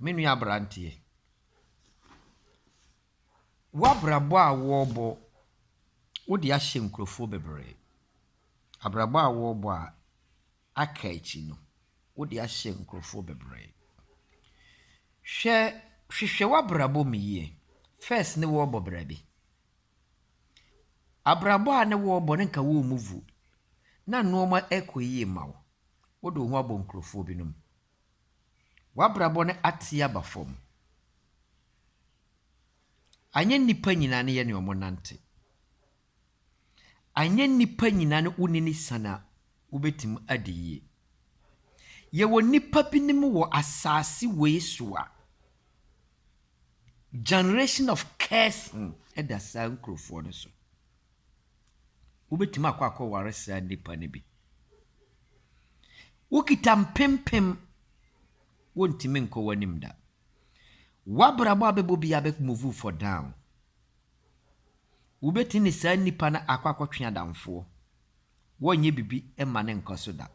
me nua aberanteɛ, w'abrabɔ a wɔrebɔ, wode ahyɛ nkurɔfoɔ bebree. Abrabɔ a wɔrebɔ a aka akyi no, wode ahyɛ nkurɔfoɔ bebree. Hwɛ hwehwɛ w'abrabɔ mu yie. First ne worebɔ bra bi. Abrabɔ a ne worebɔ no nka wommu vu. Na nnoɔma kɔ yie ma wo. Wode wo ho abɔ nkurɔfoɔ binom. W'abrabɔ no ate aba fam. Anyɛ nnipa nyinaa ne yɛ ne wɔn nante. Anyɛ nnipa nyinaa ne wone no siane a wobɛtumi adi yie. Yɛwɔ nnipa binom wɔ asaase wei so a, generation of cursing da saa nkurɔfoɔ no so. Wobɛtumi akɔ akɔ ware saa nnipa no bi. Wokita mpempem, wontumi nkɔ w'anim da. W'abrabɔ a bɛbɔ biara bɛ move for down. Wobɛtumi ne saa nnipa no akɔ akɔtwe adamfoɔ. Wɔnyɛ biribi mma no nkɔ so da.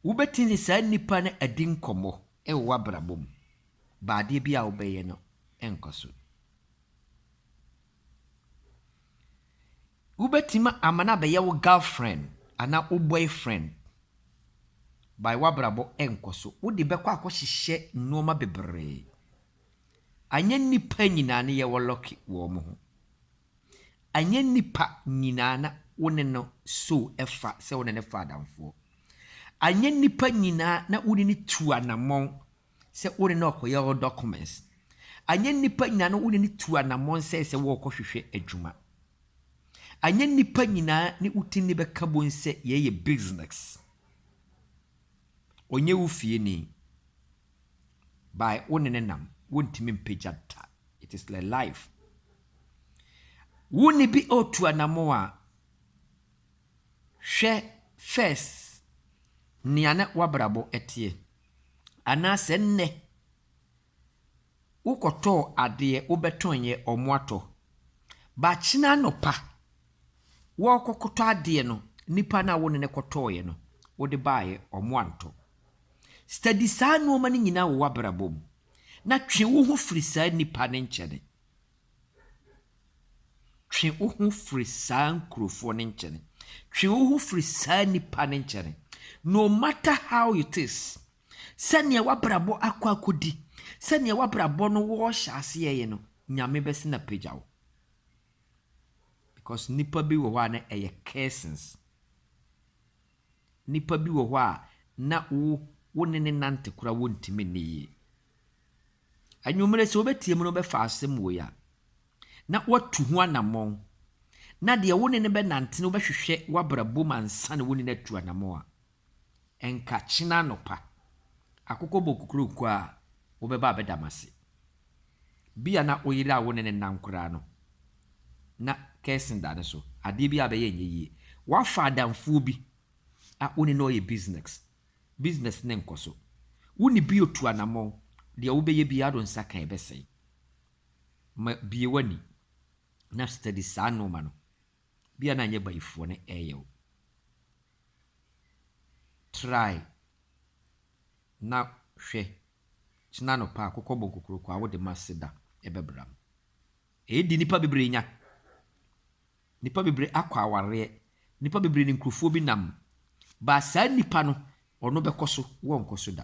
Wobɛtumi ne saa nnipa no adi nkɔmmɔ wɔ w'abrabɔ mu, but adeɛ biara a wobɛyɛ no nkɔ so. Wobɛtumi ama no abɛyɛ wo girlfriend anaa wo boyfriend, but w'abrabɔ nkɔ so. Wode bɛkɔ akɔhyehyɛ nnoɔma bebree. Anyɛ nnipa nyinaa ne yɛwɔ lucky wɔ wɔn ho. Anyɛ nnipa nyinaa na wo ne no so fa sɛ wo ne no fa adamfoɔ. Anyɛ nnipa nyinaa na wo ne no tu anammɔn sɛ wo ne no rekɔyɛ wo documents. Anyɛ nnipa nyinaa na wo ne no tu anammɔn sɛ sɛ worekɔhwehwɛ adwuma. Anyɛ nnipa nyinaa ne wo ti no bɛka bom sɛ yɛyɛ business. Ɔnyɛ wo fieni. by wo ne no nam wontumi mpagya da it is like life wo ne bi otu anamon a hwɛ first nea na wabrabɔ ɛteɛ anaasɛ nnɛ wokɔtɔɔ adeɛ wobɛtɔnyɛ ɔmo atɔ bakyena anɔpa wɔkɔkɔtɔ adeɛ no nipa no a wo ne no kɔtɔɔyɛ no wode baayɛ ɔmo antɔ Study saa nnoɔma no nyinaa wɔ w'abrabɔ mu na twe wo ho firi saa nnipa no nkyɛne. Twe wo ho firi saa nkurofoɔ no nkyɛne. Twe wo ho firi saa nnipa no nkyɛne. No matter how it is, sɛdeɛ w'abrabɔ akɔ akɔdi, sɛdeɛ w'abrabɔ no wɔrehyɛ aseɛ yɛ no, Nyame bɛsene apagya wo. Because nnipa bi wɔ hɔ a na ɛyɛ cursings. Nnipa bi wɔ hɔ a na wo wo ne ne nante koraa wontumi nni yie. Anwummere sɛ wobɛtie mu no wobɛfa asɛm wei a, na woatu ho anammɔn. Na deɛ wo ne no bɛnante no wobɛhwehwɛ w'abrabɔ mu ansa na wo ne no atu anammɔn a, ɛnka kyena anɔpa akokɔ bɔ kokuroko a wobɛba abɛda m'ase. Bi a na wo yere a wo ne no nnam koraa no, na curse da ne so. Adeɛ bi a ɔbɛyɛ nyɛ yie. Woafa adamfoɔ bi a wo ne no reyɛ business, business no nkɔ so. Wo ne bi retu anammɔn, deɛ wobɛyɛ biara wode wo nsa ka a, ɛbɛsɛe. Ma bue w'ani na study saa nnoɔma no. Bi a na nyɛ bayifoɔ na ɛreyɛ wo. Try na hwɛ Kyena anɔpa a kɔkɔbɔ nkokoroko a wode ma Seda bɛbra no. Ɛyɛ deɛ nnipa bebree nya. Nnipa bebree akɔ awareɛ. Nnipa bebree ne nkurofoɔ bi nam. Baa saa nnipa no, ɔno bɛkɔ so, wɔnkɔ so da.